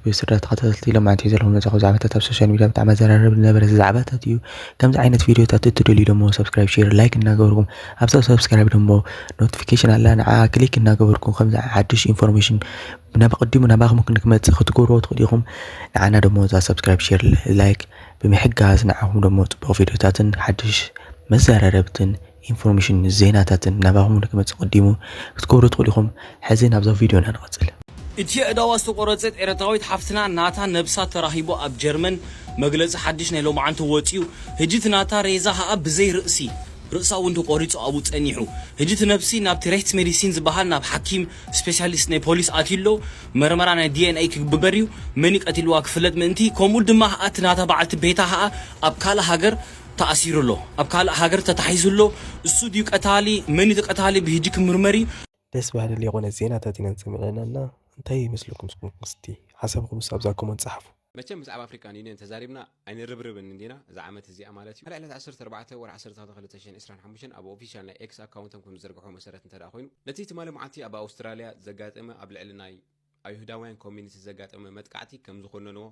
ብቤት ስድራ ተኸታተልቲ ኢሎም ኣንትዩ ዘለኹም ነጻኹ ዛዕባታት ኣብ ሶሻል ሚድያ ብጣዕሚ ኣዘራረቢ ዝነበረ ዛዕባታት እዩ ከምዚ ዓይነት ቪድዮታት እትደልዩ ደሞ ሰብስክራይብ ሼር ላይክ እናገበርኩም ኣብዛ ሰብስክራይብ ደሞ ኖቲፊኬሽን ኣላ ንዓ ክሊክ እናገበርኩም ከምዚ ሓድሽ ኢንፎርሜሽን ናብ ቅድሙ ናባኹም ክንክመጽእ ክትገብርዎ ትኽእሉ ኢኹም ንዓና ደሞ እዛ ሰብስክራይብ ሼር ላይክ ብምሕጋዝ ንዓኹም ደሞ ጽቡቕ ቪድዮታትን ሓድሽ መዘራረብትን ኢንፎርሜሽን ዜናታትን ናባኹም ንክመፅእ ቀዲሙ ክትገብሩ ትኽእሉ ኢኹም። ሕዚ ናብዛ ቪድዮና ንቐፅል። እቲ ኣእዳዋ ዝተቆረጸት ኤረትራዊት ሓፍትና ናታ ነብሳ ተራኪቡ ኣብ ጀርመን መግለጺ ሓድሽ ናይ ሎምዓንተ ወጺኡ ህጂ እቲ ናታ ሬዛ ከኣ ብዘይ ርእሲ ርእሳ ውን ተቆሪጹ ኣብኡ ጸኒሑ ህጂ እቲ ነብሲ ናብቲ ሬህትስሜዲሲን ዝባሃል ናብ ሓኪም ስፔሲያሊስት ናይ ፖሊስ ኣትዩ ኣሎ መርመራ ናይ DNA ክግበበር እዩ መን እዩ ቀቲልዋ ክፍለጥ ምእንቲ ከምኡ ድማ ከኣ እቲ ናታ በዓልቲ ቤታ ከኣ ኣብ ካልእ ሃገር ተኣሲሩ ኣሎ ኣብ ካልእ ሃገር ተታሒዙ ኣሎ እሱ ድዩ ቀታሊ መን እዩ ቀታሊ ብሂጂ ክምርመር እዩ። ደስ ባሃሊ ሌኾነ ዜናታት ኢና ንሰሚዕና ኣና እንታይ ይመስለኩም ንስኩም እስቲ ሓሳብኩምስ ኣብዛ ኮሞንት ጻሓፉ። መቸም ብዛዕባ ኣፍሪካን ዩንየን ተዛሪብና ኣይንርብርብን እንዲና እዛ ዓመት እዚኣ ማለት እዩ። ዕለት ዓሰርተ ኣርባዕተ ወርሒ ዓሰርተ ክልተ ክልተ ሽሕን ዕስራን ሓሙሽተን ኣብ ኦፊሻል ናይ ኤክስ ኣካውንቶም ከምዝዘርግሕዎ መሰረት እንተድኣ ኮይኑ ነቲ ትማሊ መዓልቲ ኣብ ኣውስትራልያ ዘጋጠመ ኣብ ልዕሊ ናይ ኣይሁዳውያን ኮሚኒቲ ዘጋጠመ መጥቃዕቲ ከም ዝኾነንዎ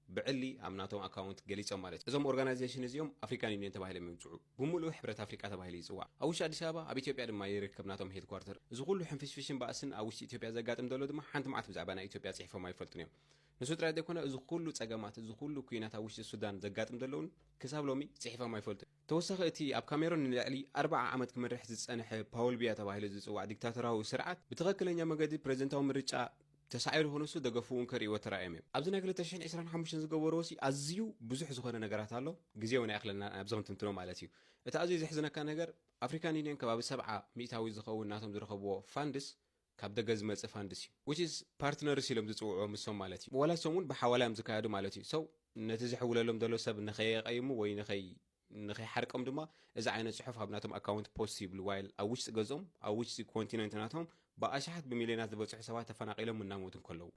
ብዕሊ ኣብ ናቶም ኣካውንት ገሊጾም ማለት እዩ። እዞም ኦርጋናይዜሽን እዚኦም ኣፍሪካን ዩኒየን ተባሂሎም ይምጽዑ። ብሙሉኡ ሕብረት ኣፍሪቃ ተባሂሉ ይጽዋዕ። ኣብ ውሽጢ ኣዲስ ኣበባ ኣብ ኢትዮጵያ ድማ ይርከብ ናቶም ሄድኳርተር። እዚ ኩሉ ሕንፍሽፍሽን ባእስን ኣብ ውሽጢ ኢትዮጵያ ዘጋጥም ዘሎ ድማ ሓንቲ መዓልቲ ብዛዕባ ናይ ኢትዮጵያ ጽሒፎም ኣይፈልጡን እዮም። ንሱ ጥራይ ዘይኮነ እዚ ኩሉ ጸገማት እዚ ኩሉ ኩናት ኣብ ውሽጢ ሱዳን ዘጋጥም ዘሎ እውን ክሳብ ሎሚ ጽሒፎም ኣይፈልጡን። ተወሳኺ እቲ ኣብ ካሜሮን ንልዕሊ ኣርብዓ ዓመት ክመርሕ ዝጸንሐ ፓውል ቢያ ተባሂሉ ዝጽዋዕ ዲክታቶራዊ ስርዓት ብትኸክለኛ መገዲ ፕረዚደንታዊ ምርጫ ተሳዒሩ ክንሱ ደገፉ'ውን ከርእይዎ ተራእዮም እዮም። ኣብዚ ናይ ክልተ ሽሕን ዕስራን ሓሙሽተን ዝገበርዎሲ ኣዝዩ ብዙሕ ዝኾነ ነገራት ኣሎ፣ ግዜ'ውን ኣይኣኽለናን ኣብዚ ክንትንትኖ ማለት እዩ። እቲ ኣዝዩ ዘሕዝነካ ነገር ኣፍሪካን ዩንዮን ከባቢ ሰብዓ ሚእታዊት ዝኸውን ናቶም ዝረኸብዎ ፋንድስ ካብ ደገ ዝመጽእ ፋንድስ እዩ which is ፓርትነርስ ኢሎም ዝጽውዕዎም ንሶም ማለት እዩ ወላ ንሶም ውን ብሓዋላ እዮም ዝካየዱ ማለት እዩ so ነቲ ዝሕውለሎም ዘሎ ሰብ ንከየቀይሙ ወይ ንከይ ንከይሓርቆም ድማ እዚ ዓይነት ጽሑፍ ኣብ ናቶም ኣካውንት ፖስት ይብሉ while ኣብ ውሽጢ ገዝኦም ኣብ ውሽጢ ኮንቲነንት ናቶም ብኣሽሓት ብሚልዮናት ዝበጽሑ ሰባት ተፈናቂሎምን እናሞቱን ከለዉ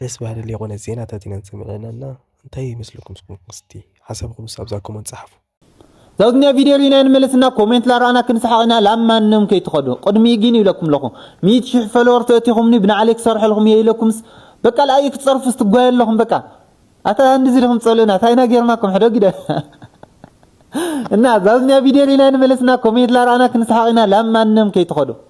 ደስ በሃሊ ሌቆነት ዜናታት ኢና ንሰምዕ ኣለና እንታይ ይመስለኩም ንስኩም ከ እስቲ ሓሳብኩም ኣብዛ ኮመንት ጸሓፉ። ዛውትኛ ቪድዮ ሪኢና ንመለስ እና ኮሜንት ላረኣና ክንስሓቅ ኢና ላብ ማንም ከይትከዱ ቅድሚኡ ጊን ይብለኩም ኣለኩ ሚእቲ ሽሕ ፈለወር ተእቲኩምኒ ብናዕለይ ክሰርሐልኩም እየ ኢለኩምስ በቃ ልኣይ ክትጸርፉስ ትጓየ ኣለኩም በቃ ኣታ እንድዚ ዲኩም ትጸልእና ታይና ጌርናኩም ሕዶ ግደ እና ዛውትኛ ቪድዮ ሪኢና ንመለስ እና ኮሜንት ላረኣና ክንስሓቅ ኢና ላብ ማንም ከይትከዱ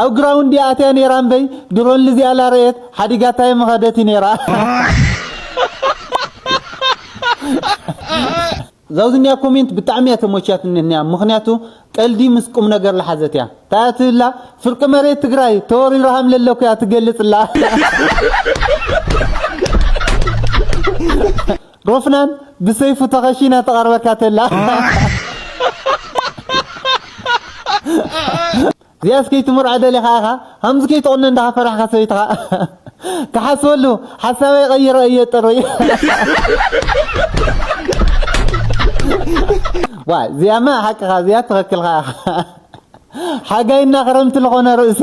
ኣብ ግራውንድ እያ ኣትያ ነይራ እምበይ ድሮን ልዚኣ ላረየት ሓዲጋታ የመኸደት እዩ ነይራ ዛውዝኒያ ኮሜንት ብጣዕሚ እያ ተሞችያትኒ እኒያ ምክንያቱ ቀልዲ ምስ ቁም ነገር ልሓዘት እያ እንታይ እያ ትብላ ፍርቂ መሬት ትግራይ ተወሪሩ ሃም ለለኩ እያ ትገልፅ እላ ሮፍናን ብሰይፉ ተኸሺና ትቐርበካ ተላ እዚኣስ ከይትምርዖ ደሊኻ ኢኻ ከምዚ ከይትቕነ እንዳ ፈራሕካ ሰበይትኻ ክሓስበሉ ሓሳበይ ቀይረ እየ ጥሩይ ዋ እዚኣማ ሓቅኻ እዚኣ ትኽክልካ ኢኻ ሓጋይና ክረምቲ ዝኾነ ርእሲ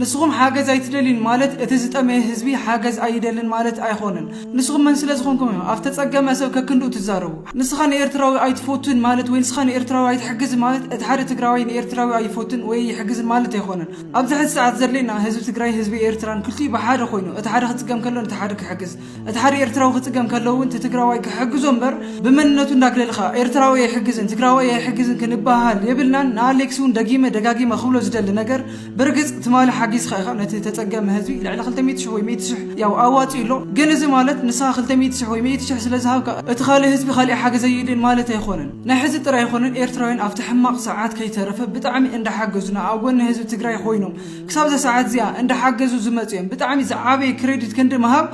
ንስኹም ሓገዝ ኣይትደልዩን ማለት እቲ ዝጠመየ ህዝቢ ሓገዝ ኣይደልን ማለት ኣይኾነን። ንስኹም መን ስለ ዝኾንኩም ኢኹም ኣብ ዝተጸገመ ሰብ ከክንድኡ ትዛረቡ? ንስኻ ንኤርትራዊ ኣይትፎቱን ማለት ወይ ንስኻ ንኤርትራዊ ኣይትሕግዝን ማለት እቲ ሓደ ትግራዋይ ንኤርትራዊ ኣይፎትን ወይ ኣይሕግዝን ማለት ኣይኾነን። ኣብዚ ሕዚ ሰዓት ዘድልየና ህዝቢ ትግራይን ህዝቢ ኤርትራን ክልቲኡ ብሓደ ኮይኑ እቲ ሓደ ክጽገም ከሎ ነቲ ሓደ ክሕግዝ እቲ ሓደ ኤርትራዊ ክጽገም ከሎ ውን እቲ ትግራዋይ ክሕግዞ እምበር ብመንነቱ እንዳግለልኻ ኤርትራዊ ኣይሕግዝን ትግራዋይ ኣይሕግዝን ክንበሃሃል የብልናን። ንኣሌክስ ውን ደጊመ ደጋጊመ ክብሎ ዝደሊ ነገር ብርግጽ ትማሊ ሓጊዝካ ኢኻ ነቲ ተጸገመ ህዝቢ ልዕሊ ክልተ ሚእቲ ሽሕ ወይ ሚእቲ ሽሕ ያው ኣዋጺኡ ኣሎ። ግን እዚ ማለት ንስኻ ክልተ ሚእቲ ሽሕ ወይ ሚእቲ ሽሕ ስለ ዝሃብካ እቲ ካልእ ህዝቢ ካሊእ ሓገዝ ኣይይድልን ማለት ኣይኾነን። ናይ ሕዚ ጥራይ ኣይኾነን ኤርትራውያን ኣብቲ ሕማቕ ሰዓት ከይተረፈ ብጣዕሚ እንዳሓገዙና ኣብ ጎኒ ህዝቢ ትግራይ ኾይኖም ክሳብዛ ሰዓት እዚኣ እንዳሓገዙ ዝመጹ እዮም። ብጣዕሚ ዝዓበየ ክረዲት ክንዲ ምሃብ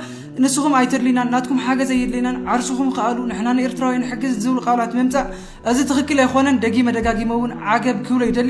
ንስኹም ኣይተድልዩናን ናትኩም ሓገዝ ኣይድልየናን ዓርስኹም ክኣሉ ንሕና ንኤርትራውያን ንሕግዝ ዝብሉ ቃላት ምምጻእ እዚ ትኽክል ኣይኾነን። ደጊመ ደጋጊመ እውን ዓገብ ክብሎ ይደሊ።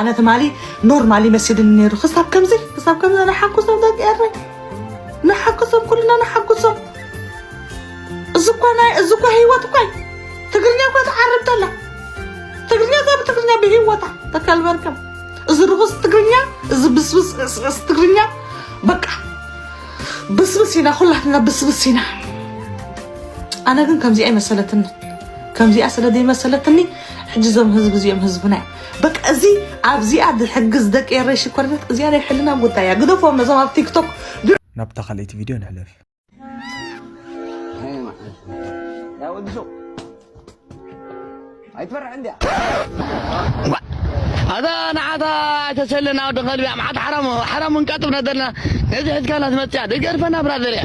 ኣነ ትማሊ ኖርማል ይመስልን ነይሩ ክሳብ ከምዚ ክሳብ ከምዚ ንሓጎሶም ደቂ ኤረ ንሓጎሶም ኩልና ንሓጎሶም እዚ እኳ ናይ እዚ እኳ ህይወት እኳ እዩ። ትግርኛ እኳ ትዓርብ ተላ ትግርኛ እዛ ብትግርኛ ብህይወታ ተከልበርከም እዚ ርኹስ ትግርኛ እዚ ብስብስ ዕስዕስ ትግርኛ በቃ ብስብስ ኢና ኩላትና ብስብስ ኢና ኣነ ግን ከምዚኣ ይመሰለትኒ ከምዚኣ ስለ ዘይመሰለትኒ ሕጂ እዞም ህዝቢ እዚኦም ህዝብና እዮም በቃ እዚ ኣብዚኣ ዝሕግዝ ደቂ ኤረይ ሽኮሪናት እዚኣ ናይ ሕልና ጉዳይ እያ ግደፎም ነዞም ኣብ ቲክቶክ ናብታ ካልኣይቲ ቪድዮ ንሕለፍ ኣይትፈርሕ እንድያ ኣዛ ንዓታ ኣይተሰለና ወዲ ከልቢ ኣምሓት ሓራሙ ሓራሙ እንቃጥብ ነደልና ነዚ ሕዝካና ትመፅያ ደገርፈና ብራዘር እያ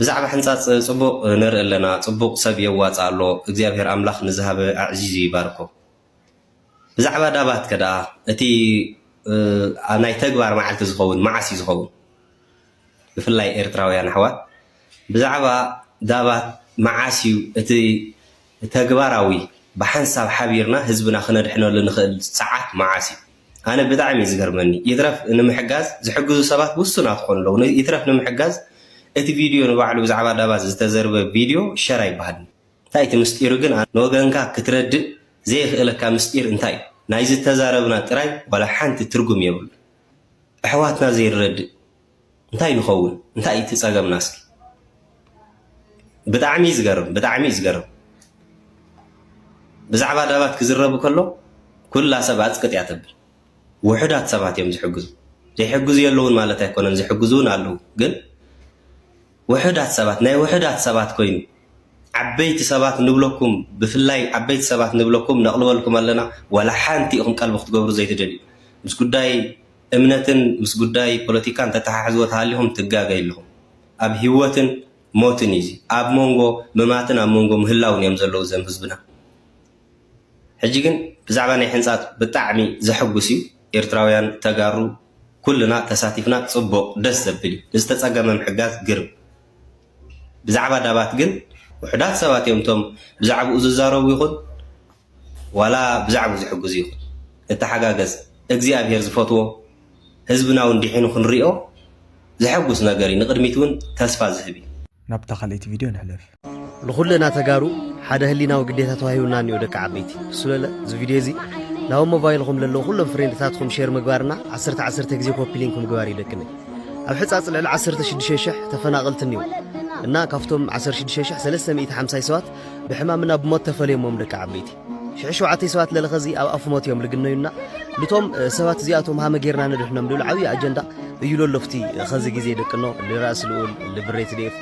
ብዛዕባ ሕንጻጽ ጽቡቅ ንርኢ ኣለና ጽቡቅ ሰብ የዋጽእ ኣሎ እግዚኣብሔር ኣምላክ ንዝሃበ ኣዕዚዙ ይባርኮ ብዛዕባ ዳባት ከ ድኣ እቲ ናይ ተግባር መዓልቲ ዝከውን መዓስ እዩ ዝከውን ብፍላይ ኤርትራውያን ኣሕዋት ብዛዕባ ዳባት መዓስ እዩ እቲ ተግባራዊ ብሓንሳብ ሓቢርና ህዝብና ክነድሕነሉ ንኽእል ሰዓት መዓስ እዩ ኣነ ብጣዕሚ እዩ ዝገርመኒ ይትረፍ ንምሕጋዝ ዝሕግዙ ሰባት ውሱናት ክኾኑ ኣለዉ ይትረፍ ንምሕጋዝ እቲ ቪድዮ ንባዕሉ ብዛዕባ ዳባት ዝተዘርበ ቪድዮ ሸር ኣይበሃልን እንታይ እቲ ምስጢሩ ግን ንወገንካ ክትረድእ ዘየኽእለካ ምስጢር እንታይ እዩ ናይ ዝተዛረብና ጥራይ ዋላ ሓንቲ ትርጉም የብሉን ኣሕዋትና ዘይንረድእ እንታይ ንኸውን እንታይ እዩ እቲ ፀገምና እስኪ ብጣዕሚ እዩ ዝገርም ብጣዕሚ እዩ ዝገርም ብዛዕባ ዳባት ክዝረብ ከሎ ኩላ ሰብ ኣፅቅጥ እያ ተብል ውሑዳት ሰባት እዮም ዝሕግዙ ዘይሕግዙ የለውን ማለት ኣይኮነን ዝሕግዙ እውን ኣለዉ ግን ውሑዳት ሰባት ናይ ውሑዳት ሰባት ኮይኑ ዓበይቲ ሰባት ንብለኩም ብፍላይ ዓበይቲ ሰባት ንብለኩም ነቕልበልኩም ኣለና ዋላ ሓንቲ ኢኹም ቀልቢ ክትገብሩ ዘይትደልዩ ምስ ጉዳይ እምነትን ምስ ጉዳይ ፖለቲካን ተተሓሕዝዎ ተሃሊኹም ትጋገዩ ኣለኹም። ኣብ ሂወትን ሞትን እዩ እዚ ኣብ ሞንጎ ምማትን ኣብ ሞንጎ ምህላውን እዮም ዘለዉ ዘም ህዝብና። ሕጂ ግን ብዛዕባ ናይ ሕንጻጽ ብጣዕሚ ዘሕጉስ እዩ ኤርትራውያን ተጋሩ ኩልና ተሳቲፍና ጽቡቕ ደስ ዘብል እዩ ንዝተጸገመ ምሕጋዝ ግርም ብዛዕባ ዳባት ግን ውሑዳት ሰባት እዮም እቶም ብዛዕብኡ ዝዛረቡ ይኹን ዋላ ብዛዕቡ ዝሕግዙ ይኹን ንተሓጋገዝ እግዚኣብሔር ዝፈትዎ ህዝብና ውን ዲሒኑ ክንሪኦ ዘሐጉስ ነገር እዩ ንቅድሚት ውን ተስፋ ዝህብ እዩ። ናብታ ካልኣይቲ ቪድዮ ንሕለፍ። ንኹልና ተጋሩ ሓደ ህሊናዊ ግዴታ ተዋሂቡና እኒኦ ደቂ ዓበይቲ ብስለለ እዚ ቪድዮ እዚ ናብ ሞባይልኹም ለለዉ ኩሎም ፍሬንድታትኹም ሼር ምግባር እና ዓሰርተ ዓሰርተ ግዜ ኮፒ ሊንክ ምግባር እዩ ደቅኒ ኣብ ሕፃፅ ልዕሊ ዓሰርተ ሽዱሽተ ሽሕ ተፈናቐልቲ እኒኦ እና ካብቶም ዓሰርተ ሽዱሽተ ሽሕ ሰለስተ ሚእቲ ሓምሳይ ሰባት ብሕማም እና ብሞት ተፈልዮሞም ደቂ ዓበይቲ ሽሕ ሸውዓተይ ሰባት ለለኸዚ ኣብ ኣፍ ሞት እዮም ልግነዩና ልቶም ሰባት እዚኣቶም ሃመ ጌርና ንድሕኖም ልብል ዓብዪ ኣጀንዳ እዩ ለሎፍቲ ኸዚ ግዜ ደቅኖ ልራእሲ ልኡል ልብሬት ዴፍ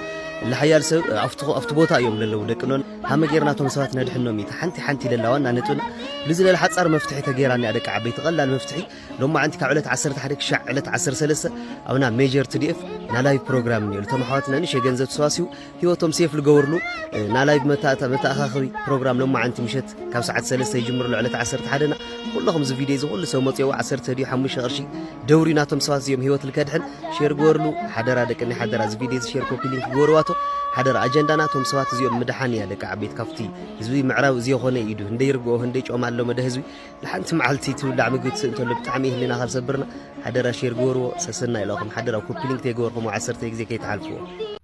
ልሓያል ሰብ ኣብቲ ቦታ እዮም ለለው ደቅኖ ሃመ ጌርናቶም ሰባት ነድሕኖም እዩ ሓንቲ ሓንቲ ለላ ዋና ነጥብና ልዚ ለለ ሓፃር መፍትሒ ተጌራ እኒኣ ደቂ ዓበይቲ ቀላል መፍትሒ ሎማዓንቲ ካብ ዕለት 11 ክሻዕ ዕለት 13 ኣብና ሜጀር ትዲኤፍ ናላይ ፕሮግራም እኒኦ ልቶም ኣሕዋትና ንሽ የገንዘብ ተሰባሲቡ ህይወቶም ሴፍ ልገበርሉ ናላይቭ መተኣኻኸቢ ፕሮግራም ሎማዓንቲ ምሸት ካብ ሰዓት ሰለስተ ይጅምር ኣሎ ዕለት ዓሰርተ ሓደና ኩለኹም እዚ ቪድዮ እዚ ኩሉ ሰብ መፅኦ ዓሰርተ ድዩ ሓሙሽተ ቅርሺ ደውሪ ናቶም ሰባት እዚኦም ህይወት ልከድሕን ሼር ገበርሉ ሓደራ ደቂ ናይ ሓደራ እዚ ቪድዮ እዚ ሼር ኮፒ ሊንክ ገበርዋቶ ሓደራ ኣጀንዳና እቶም ሰባት እዚኦም ምድሓን እያ ደቂ ዓበይት ካብቲ ህዝቢ ምዕራብ እዚ የኾነ ኢዱ ህንደይ ርግኦ ህንደይ ጮማ ኣሎ መደ ህዝቢ ንሓንቲ መዓልቲ ትብላዕ ምግቢ ትስእ እንተሎ ብጣዕሚ ህልና ካብ ሰብርና ሓደራ ሼር ገበርዎ ሰሰና ኢላኹም ሓደራ ኮፒ ሊንክ ተይገበርኹም ዓሰርተ ግዜ ከይትሓልፍዎ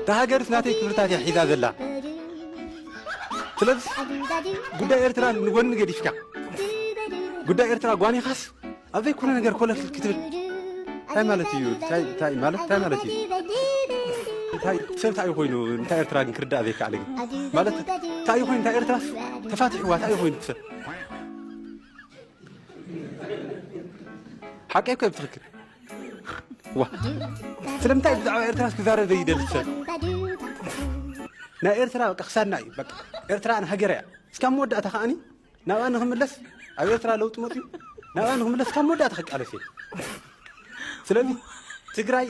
እታ ሃገርስ ናተይ ክብርታት እያ ሒዛ ዘላ ስለዚ ጉዳይ ኤርትራ ንጎኒ ገዲፍካ ጉዳይ ኤርትራ ጓኒኻስ ኣብ ዘይኮነ ነገር ኮለፍ ክትብል እንታይ ማለት እዩ እንታይ ማለት እንታይ ማለት እዩ እንታይ ሰብ እንታይ ኮይኑ እንታይ ኤርትራ ግን ክርዳእ ዘይከኣለ ግን ማለት እንታይ ኮይኑ እንታይ ኤርትራስ ተፋቲሕዋ እንታይ ኮይኑ ሰብ ሓቀይ ኮይ ፍክር ዋ ስለምንታይ ብዛዕባ ኤርትራ ክዛረብ ዘይደሊ ሰብ ናይ ኤርትራ በቃ ክሳድና እዩ በቃ ኤርትራ ንሃገር እያ እስካብ መወዳእታ ከዓኒ ናብኣ ንክምለስ ኣብ ኤርትራ ለውጢ መፅኡ ናብኣ ንክምለስ ካብ መወዳእታ ክቃለስ እየ ስለዚ ትግራይ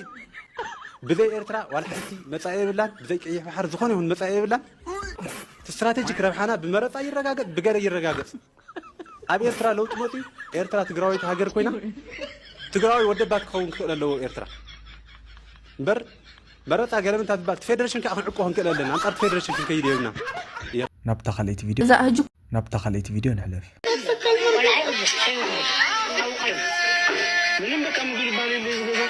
ብዘይ ኤርትራ ዋላ ሓንቲ መፃኢ የብላን ብዘይ ቀይሕ ባሕሪ ዝኾነ ይኹን መፃኢ የብላን ስትራቴጂክ ረብሓና ብመረፃ ይረጋገፅ ብገለ ይረጋገፅ ኣብ ኤርትራ ለውጢ መጺኡ ኤርትራ ትግራወይቲ ሃገር ኮይና ትግራዋይ ወደባት ክኸውን ክኽእል ኣለዎ ኤርትራ እምበር መረፃ ገለ ምንታ ትባል ፌደሬሽን ከዓ ክንዕቆ ክንክእል ኣለና ኣንፃርቲ ፌደሬሽን ክንከይድ የብና ናብታ ካልኣይቲ ቪድዮ ናብታ ካልኣይቲ ቪድዮ ንሕለፍ ምንም በቃ ምግብ ይባል የለ ዝገዛ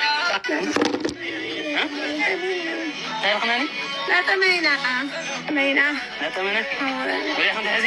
ታይረክናኒ ናጠመይና ጠመይና ናጠመነ ወዲያ ከምትሐዚ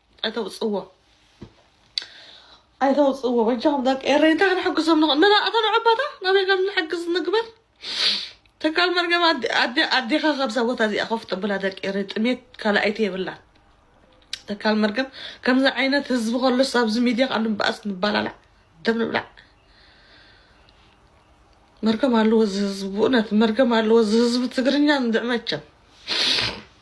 ኣይተውፅዎ ኣይተውፅዎ በጃኹም ደቂ ኤረይ እንታይ ክንሕግዞም ንኽእል መና እታ ንዕባታ ናበይ ከም ንሕግዝ ንግበር ተካል መርገም ኣዴኻ ካብዛ ቦታ እዚኣ ኮፍ ጥብላ ደቂ ኤረይ ጥሜት ካልኣይቲ የብላን ተካል መርገም ከምዚ ዓይነት ህዝቢ ከሎስ ኣብዚ ሚድያ ካሉ በኣስ ንባላላዕ ደም ንብላዕ መርገም ኣለዎ እዚ ህዝቢ ብእውነት መርገም ኣለዎ እዚ ህዝቢ ትግርኛ እንድዕመቸም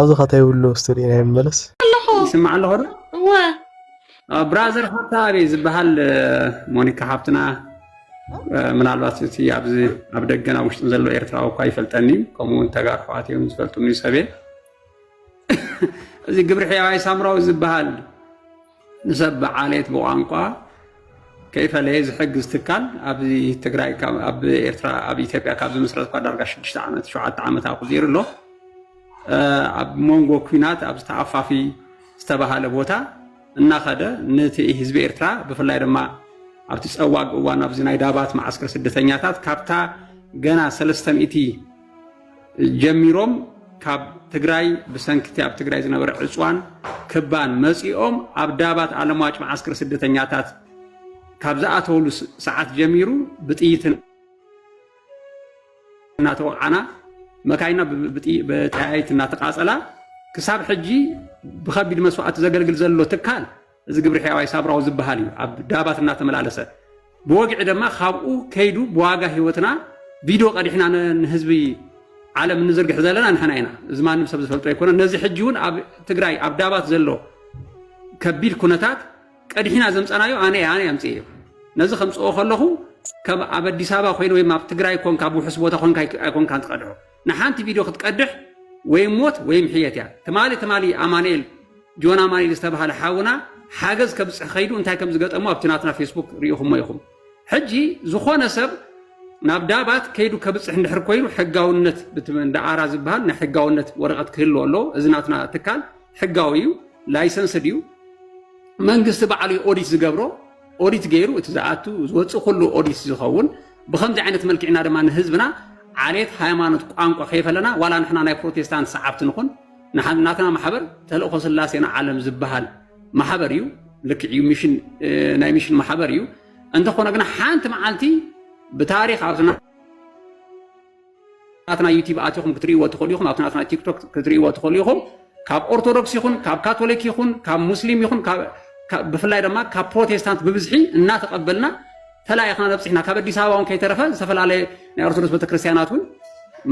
ኣብዚ ከታ ይብሉ እስቲ ሪኢና ይመለስ ይስማዕ ኣለኹ ዶ እወ ብራዘር ፋታ ኣበይ ዝበሃል ሞኒካ ሓብትና ምናልባት እቲ ኣብዚ ኣብ ደገን ኣብ ውሽጥን ዘሎ ኤርትራዊ እኳ ይፈልጠኒ እዩ ከምኡ እውን ተጋር ሕዋት እዮም ዝፈልጡኒ ሰብየ እዚ ግብሪ ሕያዋይ ሳምራዊ ዝበሃል ንሰብ ብዓሌት ብቋንቋ ከይፈለየ ዝሕግዝ ትካል ኣብዚ ትግራይ ኣብ ኤርትራ ኣብ ኢትዮጵያ ካብ ዝምስረት እኳ ዳርጋ ሽዱሽተ ዓመት ሸውዓተ ዓመት ኣቑፂሩ ኣሎ ኣብ መንጎ ኩናት ኣብ ዝተኣፋፊ ዝተባሃለ ቦታ እናኸደ ነቲ ህዝቢ ኤርትራ ብፍላይ ድማ ኣብቲ ፀዋግ እዋን ኣብዚ ናይ ዳባት መዓስከር ስደተኛታት ካብታ ገና ሰለስተ ሚእቲ ጀሚሮም ካብ ትግራይ ብሰንኪ እቲ ኣብ ትግራይ ዝነበረ ዕፅዋን ክባን መፂኦም ኣብ ዳባት ኣለምዋጭ መዓስከር ስደተኛታት ካብ ዝኣተወሉ ሰዓት ጀሚሩ ብጥይት እናተወቅዓና መካይና ብጠያይቲ እናተቃፀላ ክሳብ ሕጂ ብከቢድ መስዋእቲ ዘገልግል ዘሎ ትካል እዚ ግብሪ ሕያዋይ ሳብራዊ ዝበሃል እዩ ኣብ ዳባት እናተመላለሰ ብወግዒ ድማ ካብኡ ከይዱ ብዋጋ ህይወትና ቪድዮ ቀዲሕና ንህዝቢ ዓለም እንዝርግሕ ዘለና ንሕና ኢና እዚ ማንም ሰብ ዝፈልጦ ኣይኮነ ነዚ ሕጂ እውን ኣብ ትግራይ ኣብ ዳባት ዘሎ ከቢድ ኩነታት ቀዲሕና ዘምፀናዮ ኣነ ኣነ ኣምፅእ እዩ ነዚ ከምፅኦ ከለኹ ከም ኣብ ኣዲስ ኣበባ ኮይኑ ወይም ኣብ ትግራይ ኮንካ ብውሕስ ቦታ ኮንካ ኣይኮንካን ትቀድሖ ንሓንቲ ቪድዮ ክትቀድሕ ወይ ሞት ወይም ሕየት እያ ትማሊ ትማሊ ኣማንኤል ጆን ኣማንኤል ዝተባሃለ ሓውና ሓገዝ ከብፅሕ ከይዱ እንታይ ከም ዝገጠሙ ኣብቲ ናትና ፌስቡክ ርኢኹሞ ኢኹም ሕጂ ዝኾነ ሰብ ናብ ዳባት ከይዱ ከብፅሕ እንድሕር ኮይኑ ሕጋውነት ዳኣራ ዝበሃል ናይ ሕጋውነት ወረቐት ክህሉ ኣሎ እዚ ናትና ትካል ሕጋዊ እዩ ላይሰንስ ድዩ መንግስቲ በዓሉ ኦዲት ዝገብሮ ኦዲት ገይሩ እቲ ዝኣቱ ዝወፅእ ኩሉ ኦዲት ዝኸውን ብከምዚ ዓይነት መልክዕና ድማ ንህዝብና ዓሌት ሃይማኖት ቋንቋ ከይፈለና ዋላ ንሕና ናይ ፕሮቴስታንት ሰዓብቲ ንኹን ናትና ማሕበር ተልእኮ ስላሴና ዓለም ዝበሃል ማሕበር እዩ ልክዕ እዩ ሚሽን ናይ ሚሽን ማሕበር እዩ እንተኾነ ግና ሓንቲ መዓልቲ ብታሪክ ኣብዝና ናትና ዩቲብ ኣቲኹም ክትርእይዎ ትኽእሉ ኢኹም ኣብቲ ናትና ቲክቶክ ክትርእይዎ ትኽእሉ ኢኹም ካብ ኦርቶዶክስ ይኹን ካብ ካቶሊክ ይኹን ካብ ሙስሊም ይኹን ብፍላይ ድማ ካብ ፕሮቴስታንት ብብዝሒ እናተቐበልና ተላኢኽና ነብፅሕና ካብ ኣዲስ ኣበባ እውን ከይተረፈ ዝተፈላለየ ናይ ኦርቶዶክስ ቤተክርስትያናት እውን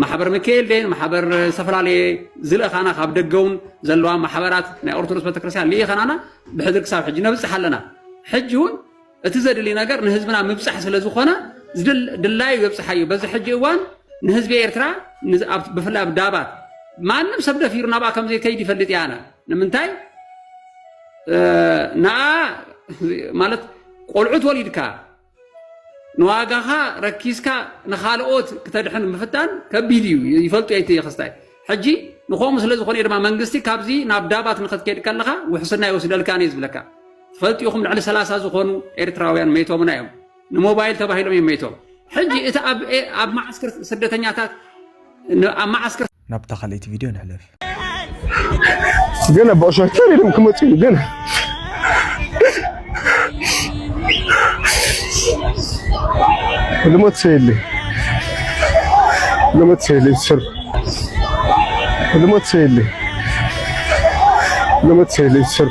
ማሕበር ሚካኤል ደን ማሕበር ዝተፈላለየ ዝልእኻና ካብ ደገ እውን ዘለዋ ማሕበራት ናይ ኦርቶዶክስ ቤተክርስትያን ልኢኸናና ብሕድሪ ክሳብ ሕጂ ነብፅሕ ኣለና ሕጂ እውን እቲ ዘድሊ ነገር ንህዝብና ምብፃሕ ስለ ዝኾነ ድላዩ የብፅሓዩ በዚ ሕጂ እዋን ንህዝቢ ኤርትራ ብፍላይ ኣብ ዳባት ማንም ሰብ ደፊሩ ናብኣ ከም ዘይከይድ ይፈልጥ እያ ኣነ ንምንታይ ንኣ ማለት ቆልዑት ወሊድካ ንዋጋኻ ረኪስካ ንኻልኦት ክተድሕን ምፍታን ከቢድ እዩ ይፈልጡ እያ እቲ ክስታይ ሕጂ ንኸምኡ ስለ ዝኾነ ድማ መንግስቲ ካብዚ ናብ ዳባት ንክትከይድ ከለኻ ውሕስና ይወስደልካ እየ ዝብለካ ትፈልጡ ኢኹም ልዕሊ ሰላሳ ዝኾኑ ኤርትራውያን መይቶምና እዮም ንሞባይል ተባሂሎም እዮም መይቶም ሕጂ እቲ ኣብ መዓስከር ስደተኛታት ኣብ መዓስከር ናብታ ካልኣይቲ ቪድዮ ንሕለፍ ግን ኣቦ ሸርተር ኢሎም ክመፁ እዩ ግን ልሞት ሰየለ ልሞት ሰየለ ዝሰር ልሞት ሰየለ ልሞት ሰየለ ዝሰር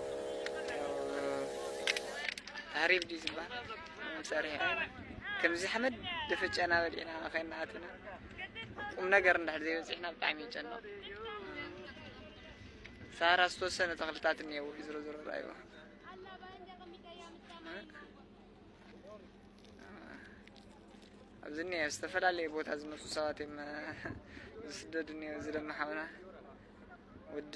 ተህሪብ ድዩ ዝበሃል ፀርሒ ዓይኒ ከምዚ ሓመድ ደፈጨና በሊዕና ከይና ኣትና ቁም ነገር እንድሕር ዘይበፂሕና ብጣዕሚ ይጨነቕ ሳራ ዝተወሰነ ተኽልታት እኒሄው ዝሮ ዝሮ ራእይዎ ኣብዚ እኒሄ ዝተፈላለየ ቦታ ዝመፁ ሰባት እዮም ዝስደዱ እኒሄው እዚ ደማ ሓውና ወዲ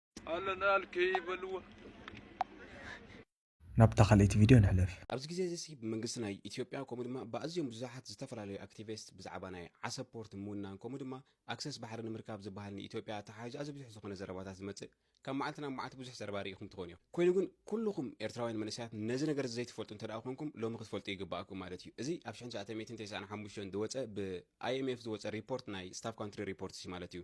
ኣለናል ከይበልዎ ናብታ ካልኣይቲ ቪድዮ ንሕለፍ ኣብዚ ግዜ እዚ ሲ ብመንግስቲ ናይ ኢትዮጵያ ከምኡ ድማ ብኣዝዮም ብዙሓት ዝተፈላለዩ ኣክቲቪስት ብዛዕባ ናይ ዓሰብ ፖርት ምውናን ከምኡ ድማ ኣክሰስ ባሕሪ ንምርካብ ዝበሃል ንኢትዮጵያ ኣተሓሕዥ ኣዚ ብዙሕ ዝኾነ ዘረባታት ዝመጽእ ካብ መዓልቲ ናብ መዓልቲ ብዙሕ ዘረባ ርኢኹም ትኾኑ እዮም ኮይኑ ግን ኩልኹም ኤርትራውያን መንእሰያት ነዚ ነገር እዚ ዘይትፈልጡ እንተ ኮንኩም ሎሚ ክትፈልጡ ይግባኣኩም ማለት እዩ እዚ ኣብ 1995 ዝወፀ ብኣይኤምኤፍ ዝወፀ ሪፖርት ናይ ስታፍ ካንትሪ ሪፖርት ማለት እዩ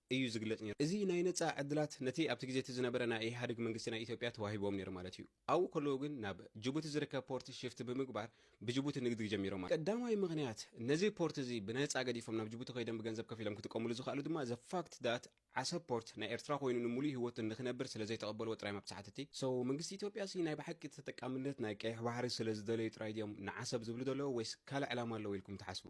እዩ ዝግለጽ ነይሩ። እዚ ናይ ነጻ ዕድላት ነቲ ኣብቲ ግዜ እቲ ዝነበረ ናይ ኢህኣድግ መንግስቲ ናይ ኢትዮጵያ ተዋሂብዎም ነይሩ ማለት እዩ። ኣብኡ ከለዉ ግን ናብ ጅቡቲ ዝርከብ ፖርት ሽፍት ብምግባር ብጅቡቲ ንግዲ ጀሚሮም ማለት እዩ። ቀዳማይ ምኽንያት ነዚ ፖርት እዚ ብነጻ ገዲፎም ናብ ጅቡቲ ከይዶም ብገንዘብ ከፊሎም ክጥቀምሉ ዝኸኣሉ ድማ the fact that ዓሰብ ፖርት ናይ ኤርትራ ኮይኑ ንምሉእ ህይወቱ ንኽነብር ስለ ዘይተቐበልዎ ጥራይ መብጽዓት እቲ So መንግስቲ ኢትዮጵያሲ ናይ ብሓቂ ተጠቃምነት ናይ ቀይሕ ባሕሪ ስለ ዝደለዩ ጥራይ ድዮም ንዓሰብ ዝብሉ ዘለዉ ወይስ ካልእ ዕላማ ኣለዎ ኢልኩም ትሓስቡ?